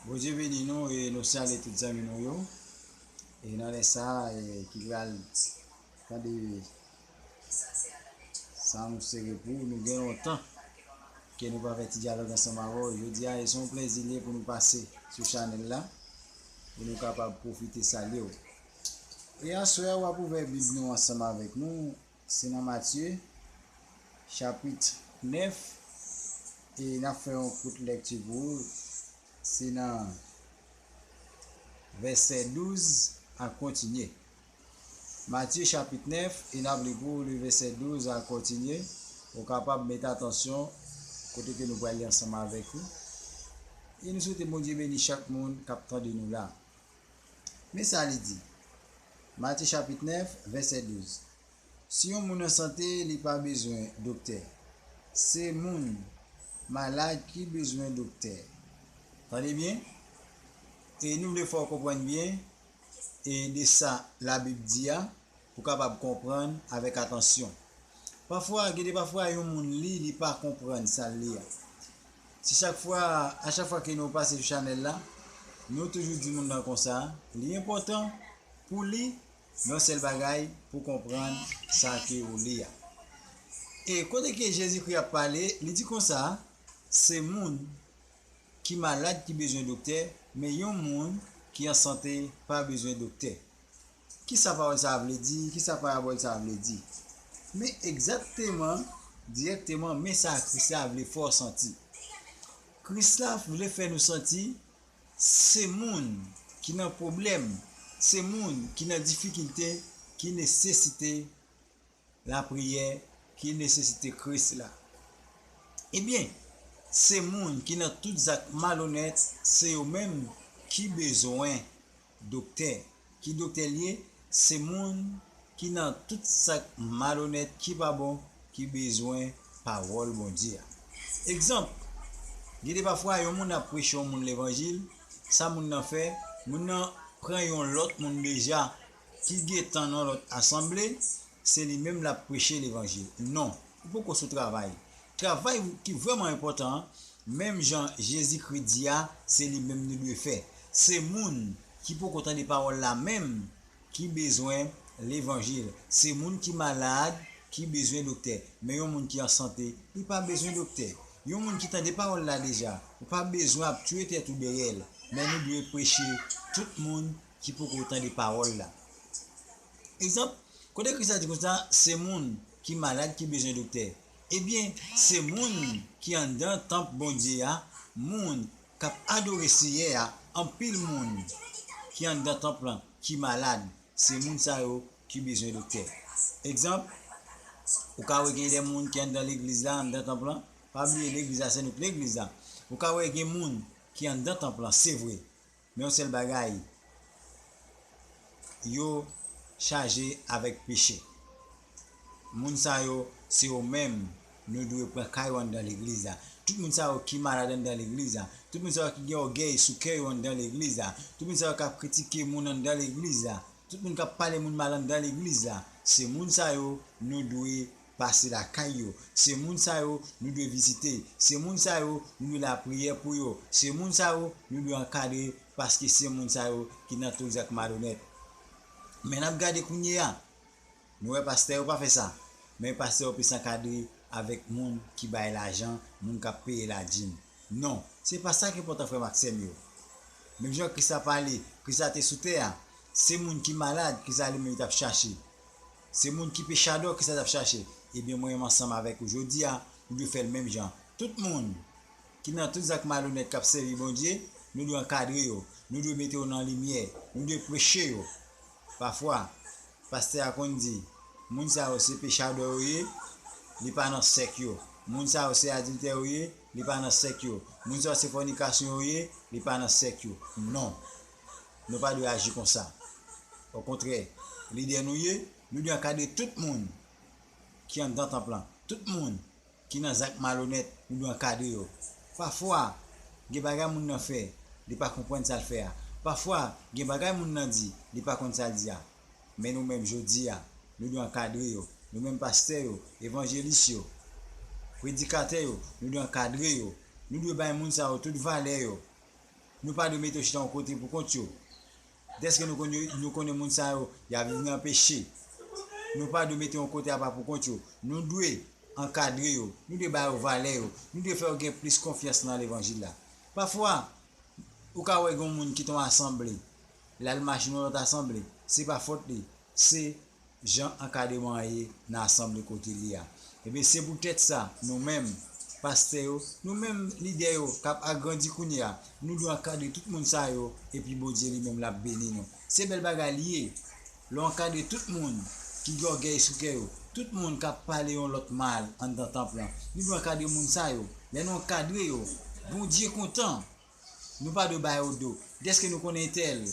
Bondye beni nou e nou salye tout zanmi nou yo. E nan lè sa e, ki pral tande sa nou sere pou ou. Nou gen lontan ke nou pa fè ti dyalòg ansanm avè ou. Jodi a e se yon plezi li ye pou nou pase sou chanèl la pou nou kapab pwofite salye ou. E aswè a ou ap ouvè bib nou ansanm avèk nou. Se nan Matye, chapit 9, e n ap fè yon kout lèkti pou ou, se nan vèsè 12 ak kontinye. Matye chapit 9, e n ap li pou ou le vèsè 12 ak kontinye. Ou kapab mete atansyon kote ke nou pral li ansanm avèk ou. E nou swete Bondye beni chak moun k ap tande nou la. Men sa li di, Matye chapit 9, vèsè 12, Si yon moun an sante, li pa bezwen doktè. Se moun malad ki bezwen doktè. Tande byen, e nou vle fè w konprann byen e de sa Labib di a pou w kapab konprann avèk atansyon. Pafwa, gen de pafwa yon moun li, li pa konprann sa l li a. Si chak fwa a chak fwa ke nou pase sou chanèl la nou toujou di moun nan konsa li enpòtan pou li yon sèl bagay pou konprann sa ke ou li a. E kote ke Jezikri ap pale li di konsa se moun ki malad ki bezwen doktè men yon moun ki an sante pa bezwen doktè. Ki sa pawòl sa a vle di? Ki sa parabòl sa a vle di? Men egzakteman, dirèkteman, men sa Kris la vle fè w santi. Kris la vle fè nou santi se moun ki nan pwoblèm, se moun ki nan difikilte ki nesesite Lapriyè ki nesesite Kris la. Ebyen, se moun ki nan tout zak malonèt se yo menm ki bezwen doktè. Ki doktè l ye? Se moun ki nan tout zak malonèt ki pa bon ki bezwen pawòl Bondye a. Egzanp, Gen de pafwa yon moun ap preche yon moun levanjil, sa moun nan fè? Moun nan pran yon lòt moun deja Ki gen tan nan lòt asanble, se li menm lap preche levanjil. Non, ou poko sou travay. Travay ki vrèman enpòtan an, menm jan Jezikri di a, se li menm nou dwe fè. Se moun ki poko tande pawòl la menm ki bezwen levanjil. Se moun ki malad ki bezwen doktè. Men yon moun ki an sante, li pa bezwen doktè. Yon moun ki tande pawòl la deja, ou pa bezwen ap tue tèt ou dèyè l. Men nou dwe preche tout moun. ki poko tande pawòl la. Egzanp, kot ekri sa di konsa, se moun ki malad ki bezwen doktè. Ebyen, se moun ki anndan tanp Bondye a, moun k ap adore Seyè a, anpil moun ki anndan tanp lan ki malad, se moun sa yo ki bezwen doktè. Egzanp, ou ka wè gen de moun ki anndan legliz la, anndan tanp lan, pa bliye legliz la se nou k legliz la, ou ka wè gen moun ki anndan tanp lan, se vre, Men yon sèl bagay, Yo chaje avèk peche. Moun sa yo, se yo menm nou dwe pran ka yo anndan legliz la. Tout moun sa yo ki malad anndan legliz la, tout moun sa yo ki gen ògèy sou kè yo anndan legliz la, tout moun sa yo k ap kritike moun anndan legliz la, tout moun k ap pale moun mal anndan legliz la, se moun sa yo nou dwe pase lakay yo, se moun sa yo nou dwe vizite, se moun sa yo nou dwe lapriyè pou yo, se moun sa yo nou dwe ankadre paske se moun sa yo ki nan tout zak malonèt. Men nap gade kounyeya, nou wè pastè yo pa fè sa, men pastè yo plis ankadre avèk moun ki bay lajan, moun kap peye ladim. Non, se pa sa k enpòtan frè m ak sè m yo. Menm jan Kris la pale, Kris la te sou tè a, se moun ki malad, Kris la li menm li tap chache. Se moun ki pe chadò kisa tap chache ebyen mwen menm ansanm avèk ou jodia nou dwe fèl menm jan tout moun ki nan tout zak malonèt kap sèvi Bondye nou dwe ankadre yo nou dwe mete yo nan limyè nou dwe preche yo pafwa pastè a konn di moun sa yo se pe chadò yo ye li pa nan sèk yo moun sa yo se adiltè yo ye li pa nan sèk yo moun sa yo se fònikasyon yo ye li pa nan sèk yo non. Nou pa dwe aji konsa. Okontrè, lidè nou ye, nou dwe ankadre tout moun ki anndan tanp lan. Tout moun ki nan zak malonèt, nou dwe ankadre yo. Pafwa, gen bagay moun nan fè, li pa konprann sa l fè a. Pafwa, gen bagay moun nan di, li pa konn sa l di a. Men nou menm jodi a, nou dwe ankadre yo. Nou menm pastè yo, evanjelis yo, predikatè yo, nou dwe ankadre yo. Nou dwe bay moun sa yo tout valè yo. Nou pa dwe mete yo chita yon kote pou kont yo. Dèske nou konn yo, nou konnen moun sa yo, y ap viv nan peche. Nou pa dwe mete yo yon kote apa pou kont yo. Nou dwe ankadre yo. Nou dwe ba yo valè yo. Nou dwe fè yo gen plis konfyans nan levanjil la. Pafwa, ou ka wè gen yon moun kite yon asanble, l al mache nan yon lòt asanble. Se pa fòt li. Se jan ankadreman an ye nan asanble kote li a. Ebyen, se poutèt sa, nou menm, pastè yo, nou menm, lidè yo, k ap agrandi kounye a, nou dwe ankadre tout moun sa yo, epi Bondye li menm l ap beni nou. Se bèl bagay li ye, lè w ankadre tout moun ki gen ògèy sou kè yo, tout moun k ap pale yon lòt mal anndan tanp lan. Nou dwe ankadre moun sa yo. Lè nou ankadre yo, Bondye kontan! Nou pa dwe ba yo do. Dèske nou konnen entèl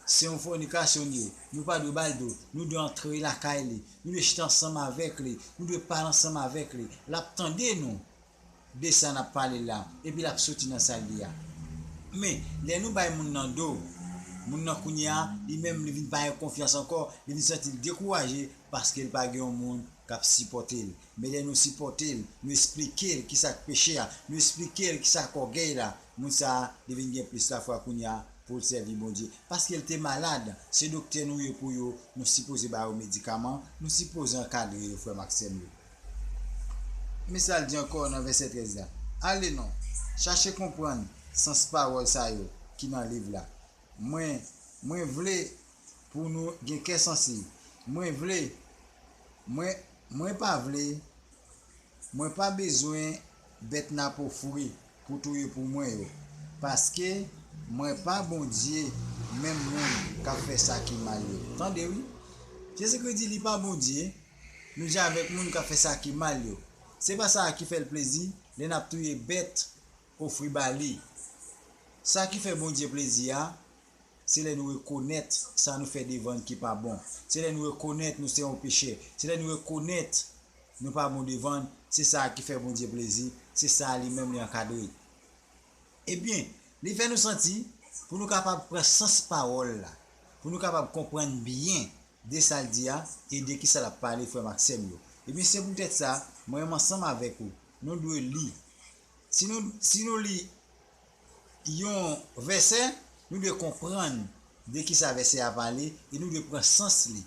se yon fònikasyonye, nou pa dwe ba l do. Nou dwe antre lakay li. Nou dwe chita ansanm avèk li. Nou dwe pale ansanm avèk li. L ap tande nou de sa n ap pale la, epi l ap soti nan sal li a. Men, lè nou bay moun nan do, moun nan kounye a, li menm li vin pa gen konfyans ankò, li vin santi l dekouraje paske l pa gen yon moun k ap sipòte l. Men lè nou sipòte l, nou esplike l ki sa k peche a, nou esplike l ki sa k ògèy la, moun sa a li vin gen plis lafwa kounye a pou l sèvi Bondye. Paske l te malad, se doktè nou ye pou yo, nou sipoze ba yo medikaman, nou sipoze ankadre yo, frè m ak sè m yo. Men sa l di ankò nan vèsè 13 la, Ale non, chache konprann sans pawòl sa yo ki nan liv la. Mwen, mwen vle pou nou gen kè sansib. Mwen vle, mwen. Mwen pa vle Mwen pa bezwen bèt napo fri pou touye pou mwen yo paske mwen pa Bondye menm moun kap fè sa ki mal yo tande wi Jezikri di li pa Bondye nou je avèk moun kap fè sa ki mal yo se pa sa ki fèl plezi lè nap touye bèt ofri ba li sa ki fè Bondye plezi a Se lè nou rekonèt sa nou fè devan L ki pa bon. Se lè nou rekonèt nou se yon pechè. Se lè nou rekonèt nou pa bon devan L. Se sa a ki fè Bondye plezi. Se sa a Li menm Li ankadre. Ebyen, Li fè nou santi, pou nou kapab pran sans pawòl la, pou nou kapab konprann byen de sa L di a e de kisa L ap pale, frè m ak sè m yo. Ebyen, se poutèt sa, mwen menm ansanm avèk ou, nou dwe li. Si nou, si nou li yon vèsè, nou dwe konprann de ki sa vèsè a pale e nou dwe pran sans li.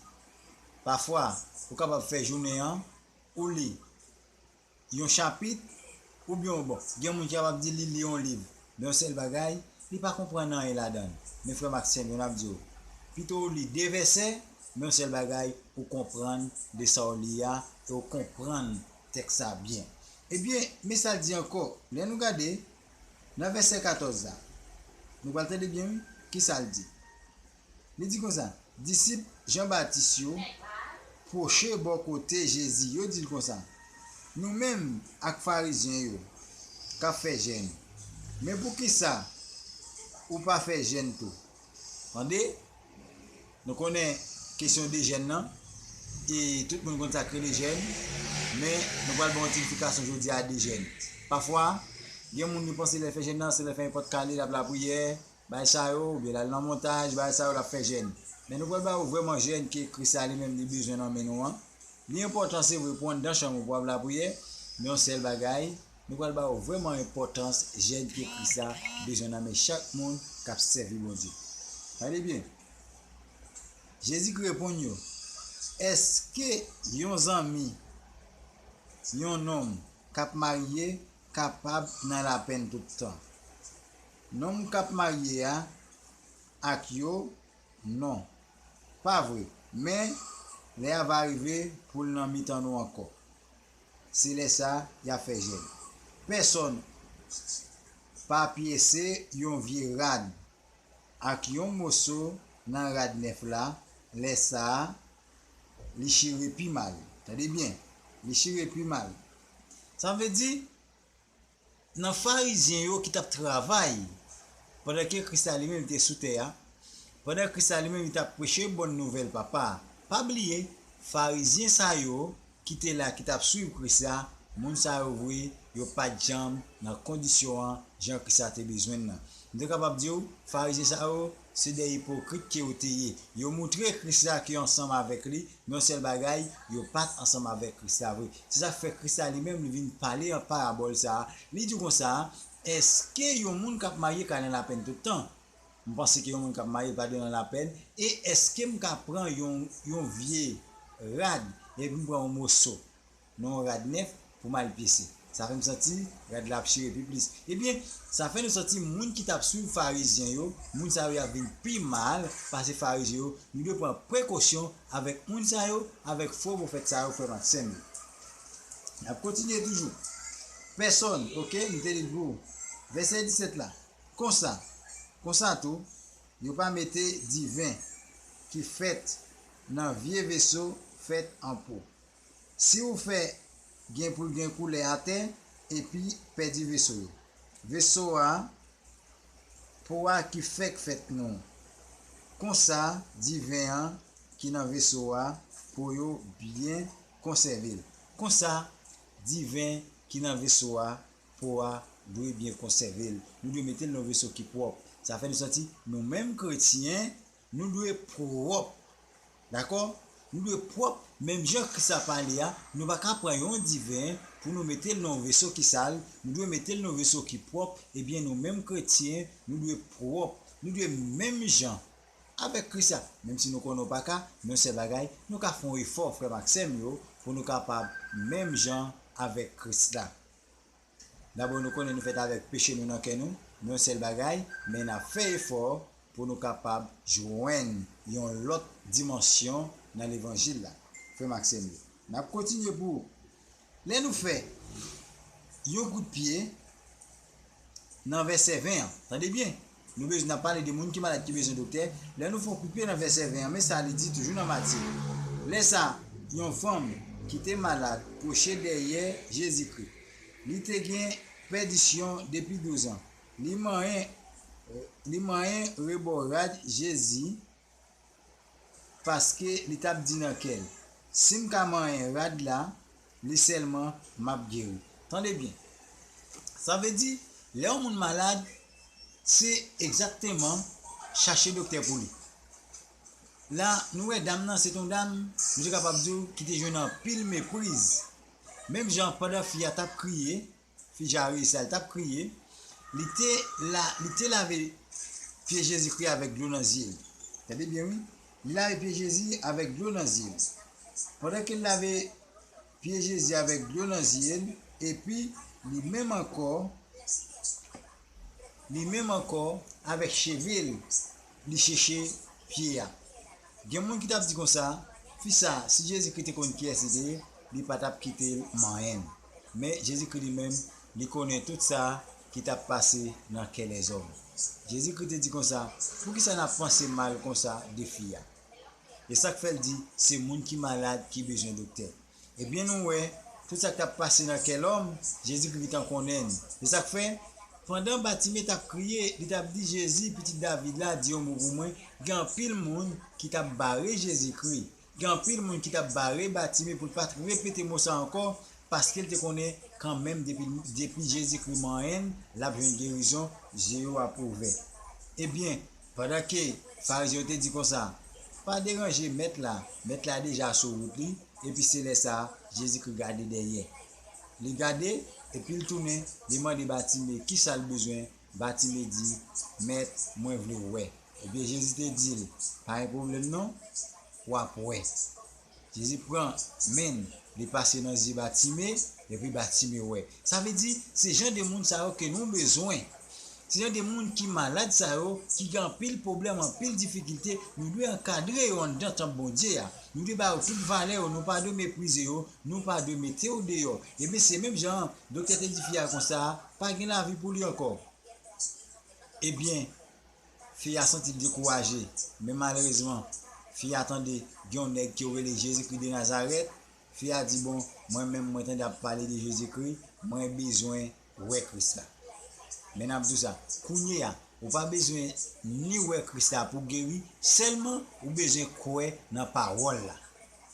Pafwa, ou kapab fè jounen an, ou li yon chapit, oubyen ou bon, gen moun ki kapab di li li yon liv, men yon sèl bagay, li pa konprann anyen ladan l. Men frè m ak sè m yo, n ap di w, pito ou li de vèsè, men yon sèl bagay, ou konprann de sa w li a e ou konprann Tèks sa a byen. Ebyen, men sa l di ankò, lè nou gade nan vèsè 14 la. Nou pral tande byen wi, ki sa l di. Li di konsa, Disip Jan Batis yo pwoche bò kote Jezi, yo di l konsa, Nou menm ak Farizyen yo k ap fè jèn, men poukisa ou pa fè jèn tou? Tande! Nou konnen kesyon de jèn nan, e tout moun konn sa k rele jèn, men nou pral ban yon ti eksplikasyon jodi a de jèn. Pafwa, gen moun yo panse lè l fè jèn nan, se lè l fè nenpòt kale, l ap lapriyè, bagay sa yo, oubyen l al nan montaj, bagay sa yo l ap fè jèn. Men nou pral ba ou vrèman jèn ke Kris la li menm li bezwen nan men nou an. Li enpòtan se vre pou w anndan chanm ou pou w ap lapriyè, men yon sèl bagay, nou pral ba ou vrèman enpòtans jèn ke Kris la bezwen nan men chak moun k ap sèvi Bondye. Tande byen! Jezikri reponn yo, Èske yon zanmi yon nonm k ap marye kapab nan lapenn tout tan? Nonm k ap marye a ak yo? Non, pa vre, men, lè a va rive pou l nan mitan nou ankò. Se lè sa a y a fè jèn. Pèsonn pa pyese yon vye rad ak yon moso nan rad nèf la, lè sa a, li chire pi mal. Tande byen, li chire pi mal. Sa vle di, nan Farizyen yo ki t ap travay pandan ke Kris la li menm li te sou tè a, pandan Kris la li menm li t ap preche bon nouvèl Papa a. Pa bliye, Farizyen sa yo, ki te la ki tap swiv Kris la, moun sa yo vre, yo pat janm nan kondisyon an jan Kris la te bezwen l lan. M te kapab di w, Farizyen sa yo, se de ipokrit ke yo te ye. Yo moutre Kris la ke yo ansanm avèk li, men yon sèl bagay, yo pat ansanm avèk Kris la vre. Se sa k fè Kris la li menm li vin pale an parabòl sa a, li di w konsa, Èske yon moun kap marye ka nan lapenn tout tan? M panse ke yon moun k ap marye pa dwe nan lapenn. E èske m ka pran yon vye rad epi m pran yon moso nan yon rad nèf pou m al pise? Sa fè m santi rad la ap chire pi plis. Ebyen, sa fè nou santi moun ki t ap suiv Farizyen yo, moun sa yo y ap vin pi mal pase Farizyen yo. Nou dwe pran prekosyon avèk moun sa yo, avèk fo pwofèt sa yo, frè m ak sè m yo. N ap kontinye toujou. Pèsonn, oke, m te li l pou ou. Vèsè 17 la. Konsa, konsa tou, yo pa mete diven ki fèt nan vye veso fèt an po. Si ou fè gen pou l gen koulè atè epi pèdi veso yo. Veso a, po a ki fèk fèt nou. Konsa, diven an ki nan veso a, po yo byen konsève l. Konsa, diven ki nan veso a Po a dwe byen konsève l. Nou dwe mete l nan yon veso ki pwòp. Sa fè nou santi, nou menm kretyen, nou dwe pwòp. Dakò? Nou dwe pwòp menm jan Kris la pale a, nou pa ka pran yon diven pou nou mete l nan yon veso ki sal, nou dwe mete l nan yon veso ki pwòp, ebyen nou menm kretyen, nou dwe pwòp. Nou dwe menm jan avèk Kris la. Menm si nou konnen w pa ka, men yon sèl bagay, nou ka fè yon efò, frè m ak sè m yo, pou nou kapab menm jan avèk Kris la. Dabò nou konnen nou fèt avèk peche nou nan kè nou, yon sèl bagay, men n ap fè efò pou nou kapab jwenn yon lòt dimansyon nan levanjil la. Frè m ak sè m yo, n ap kontinye pou ou. Lè nou fè yon kout pye nan vèsè 20 an, tande byen! Nou bezw nan pale de moun ki malad ki bezwen doktè, lè nou fè yon koupe nan vèsè 20 an men sa li di toujou nan Matye, Lè sa yon fanm ki te malad pwoche dèyè Jezikri. Li te gen pèdisyon depi douzan. Li manyen li manyen rebò rad Jezi. Paske li t ap di nan kè l, Si m ka manyen rad la li sèlman, m ap geri. Tande byen, sa vle di, lè yon moun malad, se egzakteman chache doktè pou li. La, nou wè dam nan, se t yon dam, misye kapab di w, ki te jwenn anpil mepriz. Menm jan pandan fi a t ap kriye, Fi Jairus la, li tap kriye, li te la, li te lave pye Jezikri avèk dlo nan zye li. Tande byen wi, li lave pye Jezi avèk dlo nan zye li. Pandan ke l lave pye Jezi avèk dlo nan zye l, epi, li menm ankò, li menm ankò, avèk cheve l, li cheche pye a. Gen moun ki tap di konsa, Fi sa, si Jezikri te konn kiyès li te ye, li pa tap kite l manyen. Men, Jezikri li menm, li konnen tout sa ki t ap pase nan kè lèzòm. Jezikri te di konsa, Poukisa n ap panse mal konsa de fi a? E sa k fè l di, Se moun ki malad ki bezwen doktè. Ebyen, nou wè, tout sa k t ap pase nan kè lòm, Jezikri gentan konnen l. Se sa k fè, pandan Batime t ap kriye, li t ap di, Jezi, Pitit David la, di yon mo pou mwen, gen anpil moun ki t ap bare Jezikri, Gen anpil moun ki tap bare Batime pou l pat repete mo sa ankò paske l te konnen kanmenm depi l depi Jezikri manyen l lap jwenn gerizon zye yo ap ouvè. Ebyen, pandan ke Farizyen yo te di konsa, Pa deranje Mèt la, Mèt la deja sou wout li, epi se lè sa Jezikri gade dèyè. Li gade, epi l tounen, li mande Batime kisa l bezwen Batime di, Mèt, mwen vle wè. Ebyen Jezi te di l, Pa gen pwoblèm non, w ap wè. Jezi pran men l, li pase nan zye Batime, epi Batime wè. Sa vle di, se jan de moun sa yo ke nou bezwen. Se jan de moun ki malad sa yo, ki gen anpil pwoblèm, anpil difikilte, nou dwe ankadre yo anndan tanp Bondye a. Nou dwe ba yo tout valè yo, nou pa dwe meprize yo, nou pa dwe mete yo deyò. Ebyen se menm jan an, doktè te di fi a konsa, Pa gen lavi pou li ankò. Ebyen, fi a santi l dekouraje, men malerezman, fi a tande gen yon nèg ki yo rele Jezikri de Nazarèt, fi a di, bon, mwen menm mwen tande ap pale de Jezikri, mwen bezwen wè Kris la. Men n ap di w sa, kounye a, ou pa bezwen ni wè Kris la pou w geri, sèlman ou bezwen kwè nan pawòl la.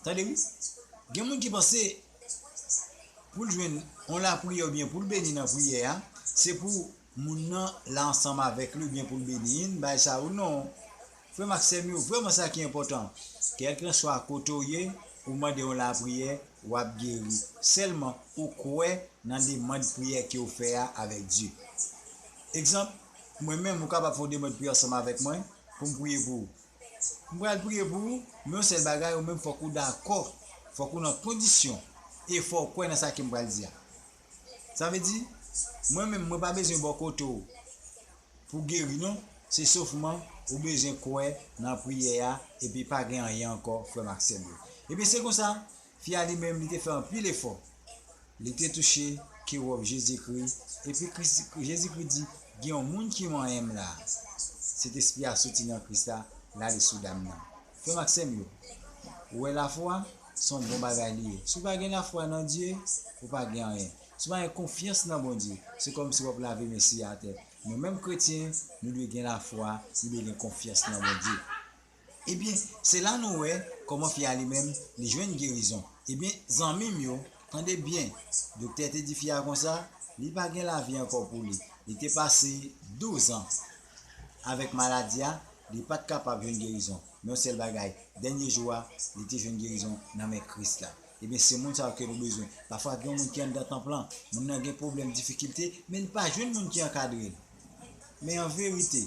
Tande wi, gen moun ki panse. Pou l jwenn yon lapriyè oubyen pou l beni nan priyè a, se pou moun nan la ansanm avèk li oubyen pou l beni yn bagay sa ou non. Frè m ak sè m yo, vrèman sa ki enpòtan, kèlkenswa kote w ye, ou mande yon lapriyè, w ap geri, sèlman ou kwè nan demand priyè ke w fè a avèk Dye. Egzanp, mwen menm, ou kapab fè yon demand priyè ansanm avèk mwen pou m priye pou ou. M pral priye pou ou, men yon sèl bagay ou menm fòk ou dakò, fòk ou nan kondisyon e fò w kwè nan sa ke m pral di a. Sa vle di, mwen menm mwen pa bezwen bò kote w pou geri non, se sofman ou bezwen kwè nan priyè a epi pa gen anyen ankò frè m ak sè m yo. Ebyen se konsa, Fi a li menm li te fè anpil efò. Li te touche ke wòb Jezikri, epi Kris, Jezikri di, Gen yon moun ki manyen m la a. Sentespri a soti nan Kris la, l ale sou dam nan. Frè m ak sè m yo, ou wè lafwa? Se yon bon bagay li ye. Si w pa gen lafwa nan Dye, ou pa gen anyen. Si w pa gen konfyans nan Bondye, se kòmsi w ap lave men siye atè. Nou menm kretyen, nou dwe gen lafwa, nou dwe gen konfyans nan Bondye. Ebyen se la nou wè kòman fi a li menm li jwenn gerizon ebyen zanmim yo tande byen doktè te di fi a konsa li pa gen lavi ankò pou li li te pase 12 ans avèk maladi a li pat kapab jwenn gerizon men yon sèl bagay dènye jou a li te jwenn gerizon nan men Kris la ebyen se moun sa yo ke nou bezwen pafwa gen yon moun ki anndan tanp lan moun nan gen pwoblèm difikilte men li pa jwenn moun ki ankadrel. Men an verite,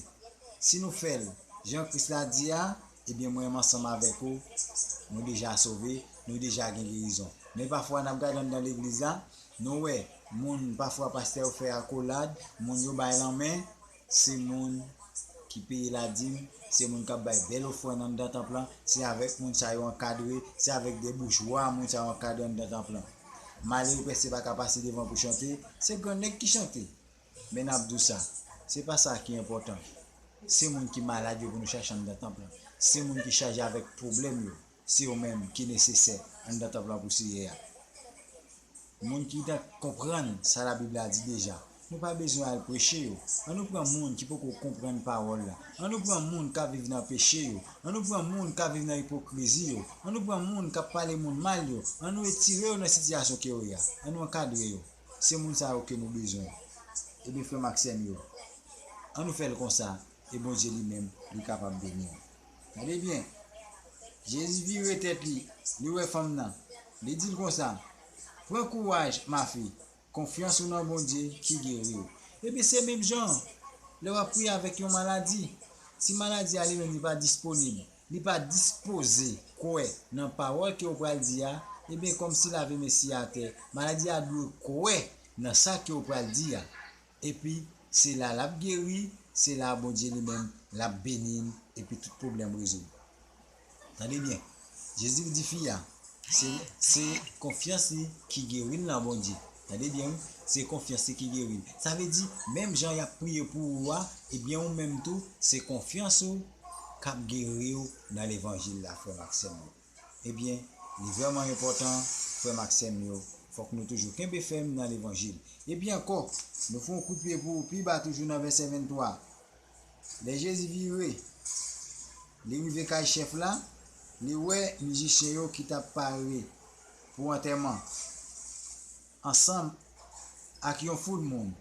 si nou fè l jan Kris la di a, ebyen mwen menm ansanm avèk ou, nou deja sove, nou deja gen gerizon. Men pafwa n ap gade anndan legliz la, nou wè moun, pafwa pastè yo fè akolad, moun yo bay lanmen, se moun ki peye ladim, se moun k ap bay bèl ofrann anndan tanp lan, se avèk moun sa yo ankadre, se avèk de boujwa moun sa yo ankadre anndan tanp lan. Malere pès se pa ka pase devan pou chante, se grannèg ki chante. Men nap di w sa, se pa sa ki enpòtan, se moun ki malad yo pou nou chache anndan tanp lan, se moun ki chaje avèk pwoblèm yo, se yo menm ki nesesè anndan tanp lan pou Seyè a. Moun ki nan konprann sa Labib la di deja, nou pa bezwen al preche yo. An nou pran moun ki poko konprann pawòl la, an nou pran moun kap viv nan peche yo, an nou pran moun kap viv nan ipokrizi yo, an nou pran moun kap pale moun mal yo, an nou etire yo nan sitiyasyon ke yo ye a, an nou ankadre yo. Se moun sa yo ke nou bezwen. Ebyen frèm ak sèm yo, an nou fèl konsa e Bondye li menm li kapab beni nou. Tande byen, Jezi vire tèt li, li wè fanm nan, li dil konsa, Pran kouraj ma fi, konfyans ou nan Bondye ki geri ou. Ebyen se menm jan an, lè wap priye avèk yon maladi, si maladi a li menm li pa disponib, li pa dispoze kwè nan pawòl ke ou pral di a, ebyen kòmsi lave mesye a atè, maladi a dwe kwè nan sa ke ou pral di a, epi se la lap geri, se la Bondye li menm lap beni n epi tout pwoblèm rezoud. Tande byen, Jezi di fi a, se se konfyans li ki geri l nan Bondye, tande byen wi, se konfyans li ki geri l, sa vle di menm jan yap priye pou ou a, ebyen ou menm tou se konfyans ou, kap geriw nan levanjil la frèm ak sèm yo ebyen li vrèman enpòtan frèm ak sèm yo fòk nou toujou kenbe fèm nan levanjil epi ankò nou fè yon kout pye pou pi ba toujou nan vèsè 23 lè jezi vire li rive kay chèf la li wè mizisyen yo ki tap pare pou antèman ansanm ak yon foul moun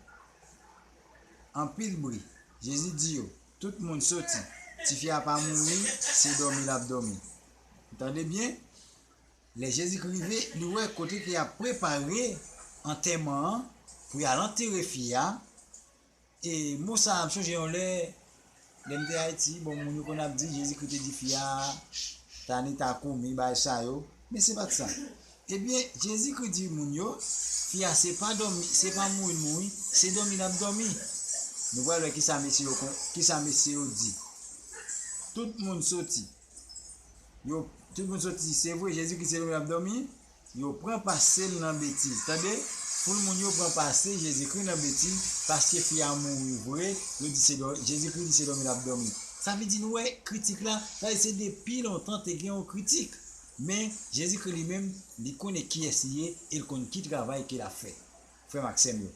anpil bri jezi di yo Tout moun soti. Tifi a pa mouri, se dòmi l ap dòmi. N tande byen? Lè Jezikri rive, li wè kote ke y ap prepare antèman an, pou y al antere fi a, e mo sa a, m sonje yon lè, lè m te Ayiti, bon, moun yo konn ap di Jezikri te di fi a, Tanita Kumi, bagay sa yo, men se pa t sa. Ebyen Jezikri di moun yo, fi a se pa dòmi, se pa mouri l mouri, se dòmi l ap dòmi. Nou pral wè kisa mesye yo kon, kisa mesye yo di. Tout moun soti. Yo, tout moun soti, se vre Jezikri se dòmi l ap dòmi, yo pran pase l nan betiz. Tande, foul moun yo pran pase Jezikri nan betiz, paske fi a mouri vre, yo di se dò, Jezikri di se dòmi l ap dòmi. Sa vle di nou wè kritik la, sa vle di se depi lontan te gen yon kritik. Men, Jezikri li menm, li konnen kiyès li ye e l konn ki travay ke l ap fè. Frè m ak sè m yo,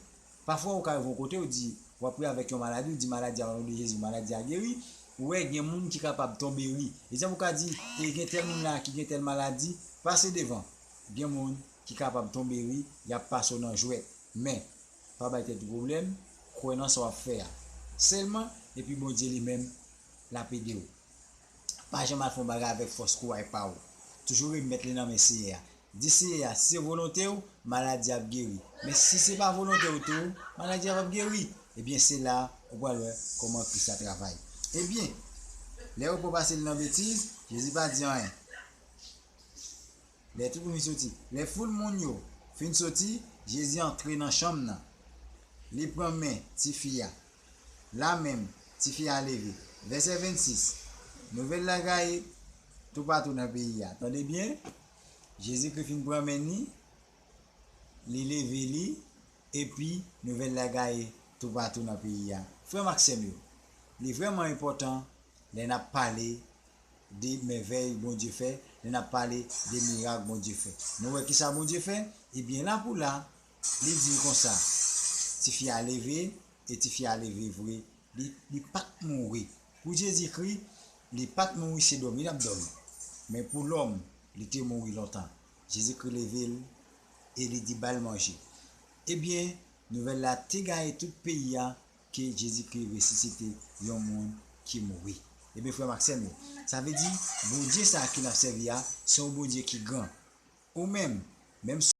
pafwa ou ka rive yon kote, ou di, w ap pri avèk yon maladi, ou di maladi a, onon de Jezi, maladi a geri, ou wè gen moun ki kapab tonbe ri. Egzanp, ou ka di, e gen tèl moun la a ki gen tèl maladi, pase devan. Gen moun ki kapab tonbe ri, y ap pase w nan jwèt. Men, pa bay tèt ou pwoblèm, kwè nan sa w ap fè a sèlman, epi Bondye li menm, l ap ede w. Pa janm al fè yon bagay avèk fòs kouray pa ou. Toujou remèt li nan men Seyè a. Di Seyè a, si se volonte ou, maladi a ap geri. Men si se pa volonte ou tou, maladi a pap geri. Ebyen se la ou pral wè kòman Kris la travay. Ebyen, lè yo pran pase li nan betiz, Jezi pa di anyen. Lè tout moun fin soti, lè foul moun yo fin soti, Jezi antre nan chanm nan. Li pran men tifi a. La menm, tifi a leve. Vèsè 26, Nouvèl la gaye toupatou nan peyi a. Tande byen, Jezikri fin pran men ni, li leve li, epi nouvèl la gaye toupatou nan peyi a. Frè m ak sè m yo, li vrèman enpòtan lè n ap pale de mèvèy Bondye fè, lè n ap pale de mirak Bondye fè. Nou wè ki sa Bondye fè? Ebyen, lapoula, Li di l konsa, tifi a leve, e tifi a leve vre, li, li pa t mouri. Pou Jezikri, li pa t mouri, se dòmi l ap dòmi. Men pou lòm, li te mouri lontan. Jezikri leve l, e li di ba l manje. Ebyen, nouvèl la te gaye tout peyi a ke Jezikri resisite yon moun ki mouri. Ebyen, frè m ak sè m yo, sa vle di, Bondye sa a ke n ap sèvi a, se yon Bondye ki gran. Ou menm, menm si.